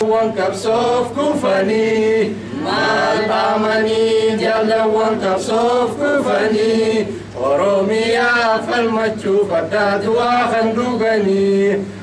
Jaalawwan qabsoof kufanii maal dhaamanii jaalawwan qabsoof kufanii Oromiyaa falmachuuf addaa du'aa kan dhuganii.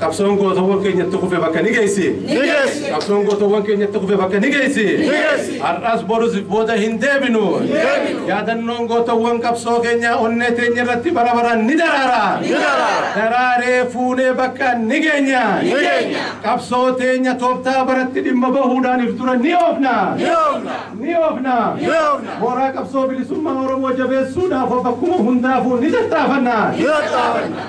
Qabsoon gootowwan keenya itti kufe bakka ni geessi. Ni geessi. Qabsoon gootowwan keenya itti kufe bakka ni geessi. Ni geessi. Har'as borus booda hin deebinu. deebinu. Yaadannoon gootowwan qabsoo keenyaa onnee teenya irratti bara baraan ni daraara. Ni daraara. Daraaree fuunee bakka ni geenya. Ni geenya. Qabsoo teenya tooftaa baratti dhimma bahuudhaan if dura ni oofna. Ni oofna. Ni oofna. Ni oofna. Mooraa qabsoo bilisummaa Oromoo jabeessuudhaaf of bakkuma hundaafuu ni tattaafanna. Ni tattaafanna.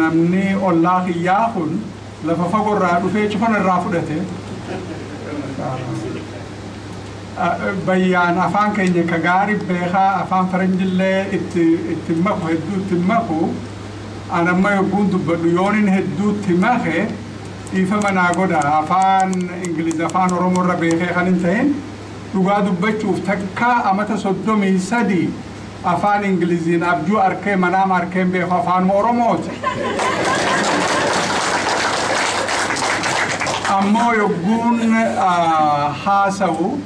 Namni ollaa kiyyaa kun lafa fago irraa dhufee cufa narraa fudhate. Bayyaan afaan keenya ka gaari beekaa afaan faranjillee itti itti maku hedduu itti maku an amma yogguun dubbadhu yoonin hedduutti make dhiifama naa godha afaan ingiliz afaan oromoo irra beekee kan hin tahin dhugaa dubbachuuf takkaa amata soddomii sadii Afaan Ingiliziin abjuu arkee manaama arkeen beeku afaanuma Oromooti. Ammoo yogguun haasawu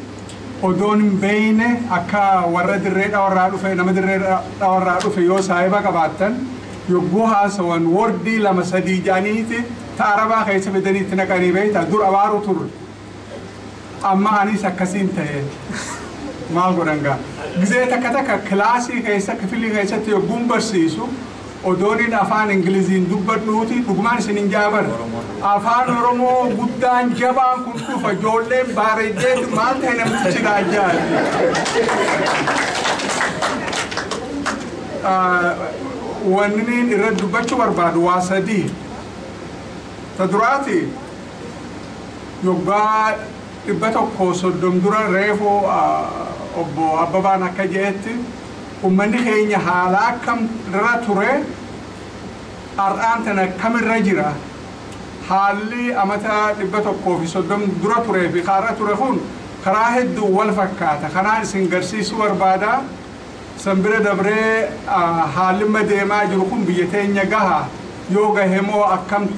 odoon hin beeyne akka warra dirree dhawarraa dhufe nama dirree dhawarraa dhufe yoo saahiba qabaattan yogguu haasawan wordii lama sadii ja'aniiti ta arabaa keessa fidanii itti naqanii beeyta dur abaaru turre Amma aniis akkasiin tahe maal godhan gaa? Gizee takka takka kilaasii keessa kifilii keessatti yogguun barsiisu odooniin afaan Ingiliziin dubbadhuuti dhugumaan isinin ja'a bar afaan Oromoo guddaan jabaan kun dhufa ijoolleen baareeddeetu maal tahe namtichi raajjaati. Wanniniin irra dubbachuu barbaadu waa sadii. Ta duraati Waggaa 130 dura reefu Obbo Abbabaan akka je'etti ummanni keenya haala akkam irra ture ar'aan tana akkam irra jira? Haalli amata 130 dura turee fi ka ar'a ture kun karaa hedduun wal fakkaata. Kanaan isin garsiisuu barbaada. San bira dabree haalli amma deemaa jiru kun biyya teenya gahaa? Yoo gahe moo akkam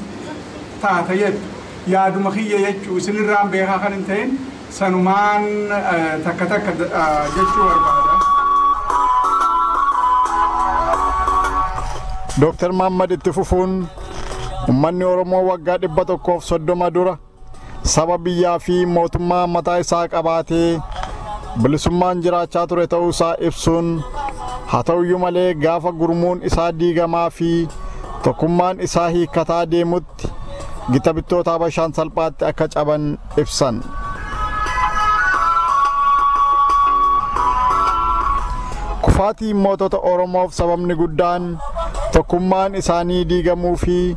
taata jettu? Yaaduma kiyya jechuu isin irraan beekaa kan hin ta'in sanumaan takka takka jechuu barbaada. Dooktar Mahammad itti fufuun, Ummanni Oromoo waggaa 130 dura, saba biyyaa fi mootummaa mataa isaa qabaatee bilisummaan jiraachaa ture ta'uu isaa ibsuun haa ta'uyyuu malee gaafa gurmuun isaa diigamaa fi tokkummaan isaa hiikkataa deemutti gita bittoota Habashaan salphaatti akka caban ibsan. Kufaatiin mootota Oromoof sababni guddaan tokkummaan isaanii diigamuu fi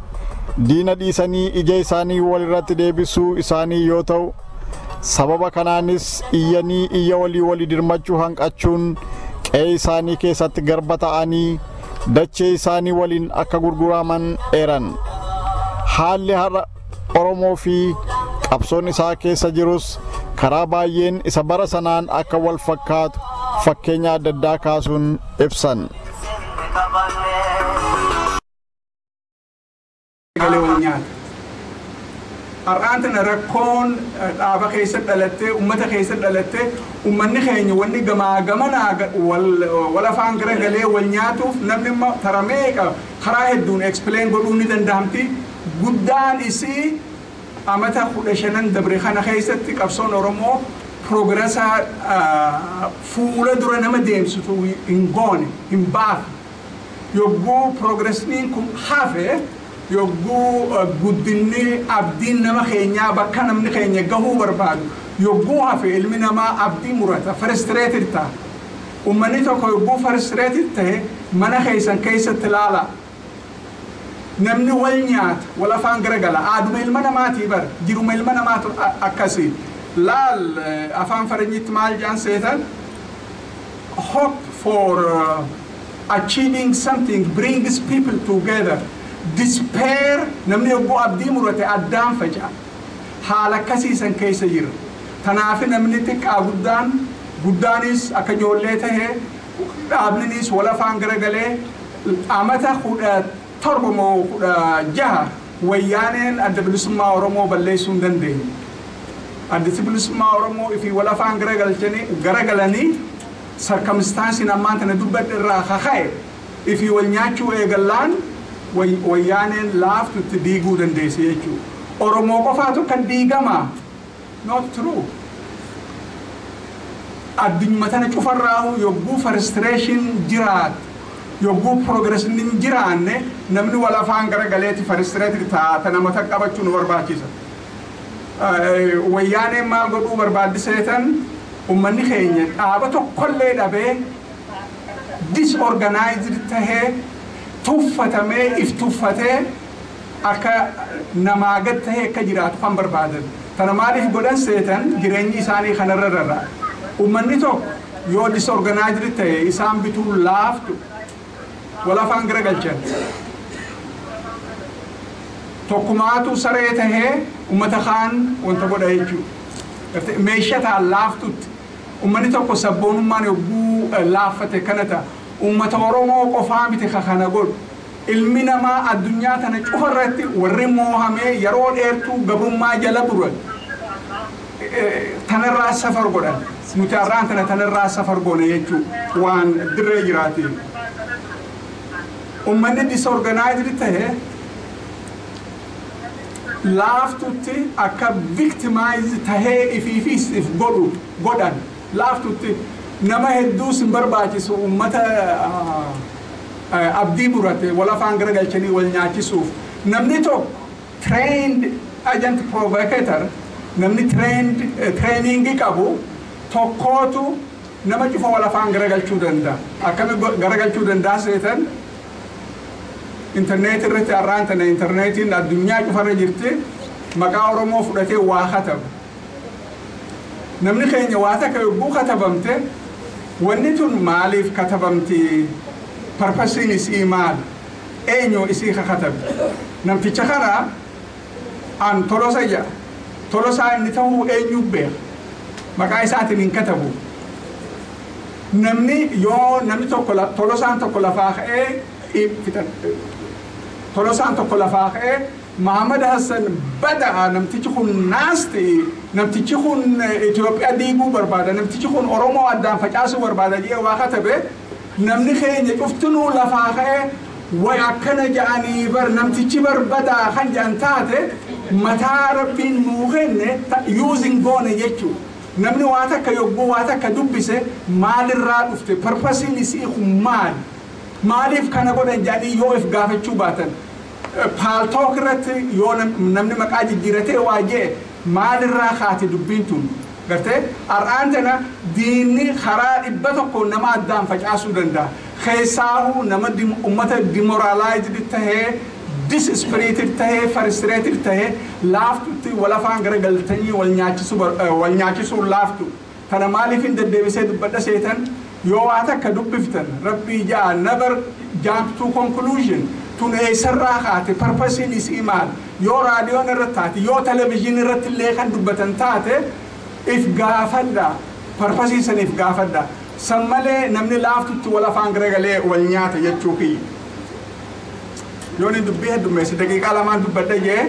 diina dhiisanii ija isaanii wal irratti deebisuu isaanii yoo ta'u, sababa kanaanis iyyanii iyya walii walii dirmachuu hanqachuun qe'ee isaanii keessatti garba ta'anii dachee isaanii waliin akka gurguraaman eeran. Haalli har'a Oromoo fi qabsoon isaa keessa jirus karaa baay'een isa bara sanaan akka wal fakkaatu fakkeenya adda addaa kaasuun ibsan. galee wal nyaata. Har'aan tana rakkoon dhaaba keessa dhalattee, uummata keessa dhalattee, uummanni keenya wanni gamaa gamanaa wal afaan gara galee wal nyaatuuf namni immoo tara meeqa karaa hedduun explain godhuu ni danda'amti. Guddaan isii amata kudha shanan dabre kana keessatti qabsoon Oromoo piroogirasaa fuula dura nama deemsitu hin goone, hin baafne. Yogguu progressniin kun hafe, yogguu guddinni abdiin nama keenyaa bakka namni keenya gahuu barbaadu yogguu hafe ilmi namaa abdii murata, frustrated ta'a. Ummanni tokko yogguu frustrated ta'e mana keessan keessatti ilaalaa. Namni wal nyaata, wal afaan garagala. Aaduma ilma namaatii bar, jiruma ilma namaatu akkasii. Laal afaan faranjiitti maal jedhan seetan? hope for uh, achieving something brings people together. Despair namni yogguu abdii murate addaan faca'a. Haala akkasii san keessa jira. Tanaafi namni xiqqaa guddaan guddaanis akka ijoollee tahe dhaabninis wal afaan garagalee amata kudha 7 moo 16 wayyaaneen Adda Bilisummaa Oromoo balleessuu hin dandeenye. Addi Bilisummaa Oromoo ifii wal afaan garagalchanii, garagalanii sarkamistaansiin ammaan tana dubbadhe irraa ka ka'e ifii wal nyaachuu eegallaan way, wayyaaneen laaftutti diiguu dandeesse jechuudha. Oromoo qofaatu kan diigamaa? Not true. Addunyuma tana cufarraahuu yogguu firstration jiraat yogguu progress hin jiraanne namni wal afaan gara galeeti firstrated ta'a ta nama tak qabachuu nu barbaachisa. Wayyaaneen maal godhuu barbaaddi seetan ummanni keenya dhaaba tokkollee dhabee disorganized tahee tuffatamee if tuffatee akka namaa gad tahee akka jiraatu kan barbaadan. Kana maaliif godhan seetan jireenyi isaanii kanarra rara. Ummanni tokko yoo disorganized tahe isaan bituun laaftu wal afaan gara galchan. Tokkumaatu saree tahee ummata kaan wanta godha jechuu. Gartee meesha taha laaftutti. Ummanni tokko sabboonummaan yogguu laaffate kana taha. Ummata Oromoo qofaa miti ka kana godhu. Ilmi namaa addunyaa tana cufa irratti warri moohamee yeroo dheertuu gabrummaa jala turan tana irraa safar godhan. Nuti har'aan tana tana irraa safar goona jechuu waan dirree jiraati. Ummanni disorganized ta'e laaftutti akka victimized tahee ifiifis if godhu godhan. laaftutti nama hedduus hin barbaachisu uummata abdii murate wal afaan garagalchanii wal nyaachisuuf namni tokko trained agent provocator namni trained training qabu tokkootu nama cufa wal afaan garagalchuu danda'a akkami garagalchuu danda'a seetan interneetii irratti arraan tana interneetiin addunyaa cufarra jirti maqaa oromoo fudhatee waa katabu Namni keenya waa takka yogguu katabamte wanni tun maaliif katabamti? Parpasiin isii maal? Eenyu isii ka katabe? Namticha kana an Tolosa jedha. Tolosaa inni tahuu eenyuu beeka? Maqaa isaatiin hin katabu. Namni yoo namni tokko Tolosaan tokko lafaa ka'ee Tolosaan tokko lafaa ka'ee Mahamad Hassan bada'a namtichi kun naasti namtichi kun Ethiopia diiguu barbaada namtichi kun Oromoo addaan facaasuu barbaada jedhee waa katabe namni keenya cuftinuu lafaa ka'ee way akkana ja'anii bar namtichi bar badaa kan ja'an taate mataa rabbiin nuu kenne ta using goone jechuu namni waa takka yogguu waa takka dubbise maalirraa dhufte parpasiin isii kun maali maaliif kana godhan ja'anii yoo if gaafachuu baatan Paltalk irratti yoo namni maqaa jijjiratee waa je'e maalirraa kaati dubbiin tun? Gartee? Har'aan tana diinni karaa dhibba tokkoon nama addaan facaasuu danda'a. Keessaahuu nama ummata demoralized tahee, disspirited tahee, frustrated tahee laaftutti wal afaan garagaltanii wal nyaachisuun laaftu. Tana maaliifin deddeebisee dubbadha seetan? Yoo waa takka dubbiftan, Rabbii ja'a, never jump to conclusion, tun eessarraa kaate, purpose-n isii maal? Yoo raadiyoon irratti taate, yoo television irratti illee kan dubbatan taate, if gaafadha, purpose san if gaafadha. San malee namni laaftutti wal afaan garagalee wal nyaata jechuu kiyya. Yooni dubbii heddummeesse daqiiqaa lamaan dubbadha jee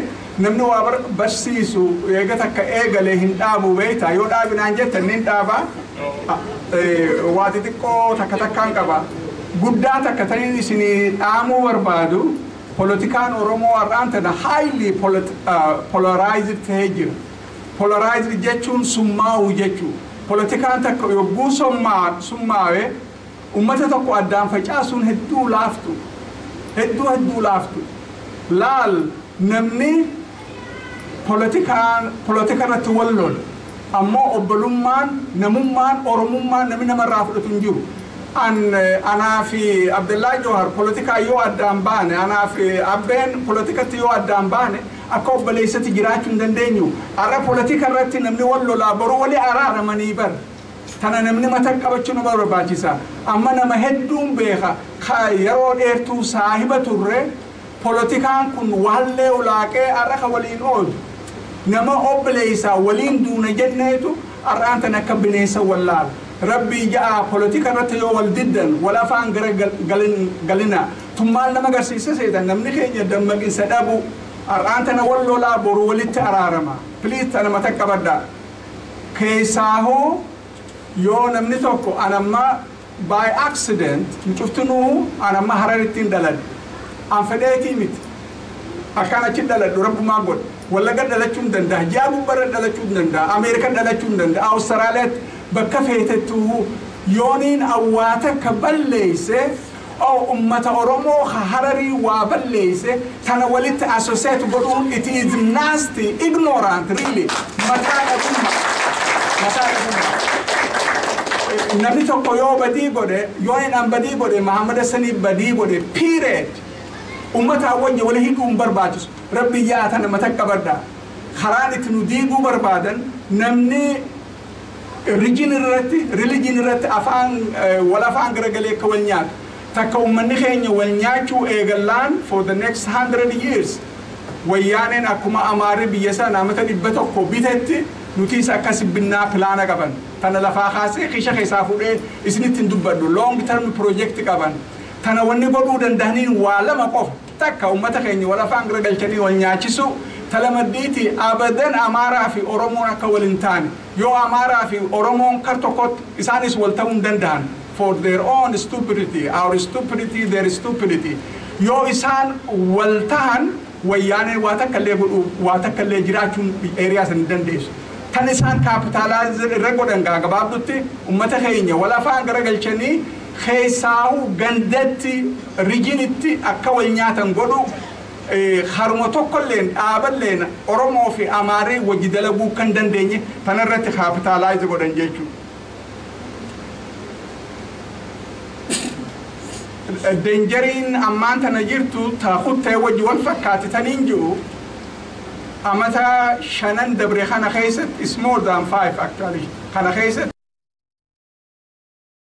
namni waa barsiisu eega takka eegalee hin dhaabuu beeyta yoo dhaabi naan jettan nin dhaaba waa xixiqqoo takka takkaan qaba guddaa takka tanin isinii dhaamuu barbaadu polotikaan Oromoo har'aan tana highly polarized ta'ee jira. Polarized jechuun summaa'uu jechuu. Polotikaan takka yogguu summaawe Ummata tokko addaan facaasuun hedduu laaftu hedduu hedduu laaftu laal namni polotikaan polotika irratti wal lola ammoo obbolummaan namummaan oromummaan namni nama irraa fudhatu hin jiru an anaa fi abdallaa joohar polotikaa yoo addaan baane anaa fi abbeen polotikatti yoo addaan baane akka obboleessatti jiraachuu hin dandeenyu har'a polotika irratti namni wal lolaa boruu wali araaramanii bar Tana namni matan qabachuu nama barbaachisa. Amma nama hedduun beeka ka yeroo dheertuu saahiba turre polotikaan kun wahallee ulaaqee har'a ka waliin oodu nama obboleessaa waliin duuna jenneetu har'aan tana akka bineensa wal laala. Rabbii ja'aa polotika irratti yoo wal diddan wal afaan gara galina. Tun maal nama garsiisa seetan namni keenya dammaqinsa dhabuu. Har'aan tana wal lolaa boru walitti araarama. Please tana matan qabadhaa. Keessaahuu yoo namni tokko an amma by accident nu cuftinuu an amma hararittiin dhaladhe an fedheetii miti akkaan achi dhaladhu rabbumaa godhe wallagga dhalachuun dandaha ji'aa gubbarra dhalachuun dandaha ameerika dhalachuun dandaha awustaraaliyaatti bakka feetettuuhuu yooniin awwaa takka balleesse Oww ummata oromoo ka hararii waa balleeyse tana walitti associate godhuun it is nasty ignorant really mataa dhabumma mataa dhabumma namni tokko yoo badii godhe yoo hin an badii godhe Muhammad Hassaniif badii godhe period ummataa wajji wali hidhuu hin barbaachisu rabbi yaa tana mata qabadha karaan itti nu diiguu barbaadan namni Rijin irratti, religion irratti afaan wal afaan garagalee akka wal nyaatu. Takka ummanni keenya wal nyaachuu eegallaan for the next hundred years wayyaaneen akkuma amaarri biyya sana amata 100 bitetti nutiis akkasi binnaa pilaana qaban. Tana lafaa kaasee kiisha keessaa fuudhee isinitti hin dubbadhu. Long term project qaban. Tana wanni godhuu dandahaniin waa lama qofa. Takka ummata keenya wal afaan garagalchanii wal nyaachisuu, ta lamaddiitii abadan Amaaraa fi Oromoon akka wal hin taane, yoo Amaaraa fi Oromoon kar tokkotti isaanis wal ta'uu hin danda'an, for their own stupidity, our stupidity, their stupidity, yoo isaan wal tahan Wayyaaneen waa takka illee godhuu, waa takka illee jiraachuun area san hin dandeessu. Tan isaan capitalize irra godhan gaa gabaabdutti ummata keenya wal afaan garagalchanii, Keessaahuu gandatti, rijinitti akka wal nyaatan godhuuf karuma tokkolleen, dhaaballeen Oromoo fi Amaarri wajji dalaguu akka hin dandeenye tana irratti kaapitaalaayizi godhan jechuudha. Deenjariin ammaan tana jirtu ta kuttee wajji wal fakkaatti taniin jiru amata shanan dabre kana keessatti is more than five actually kana keessatti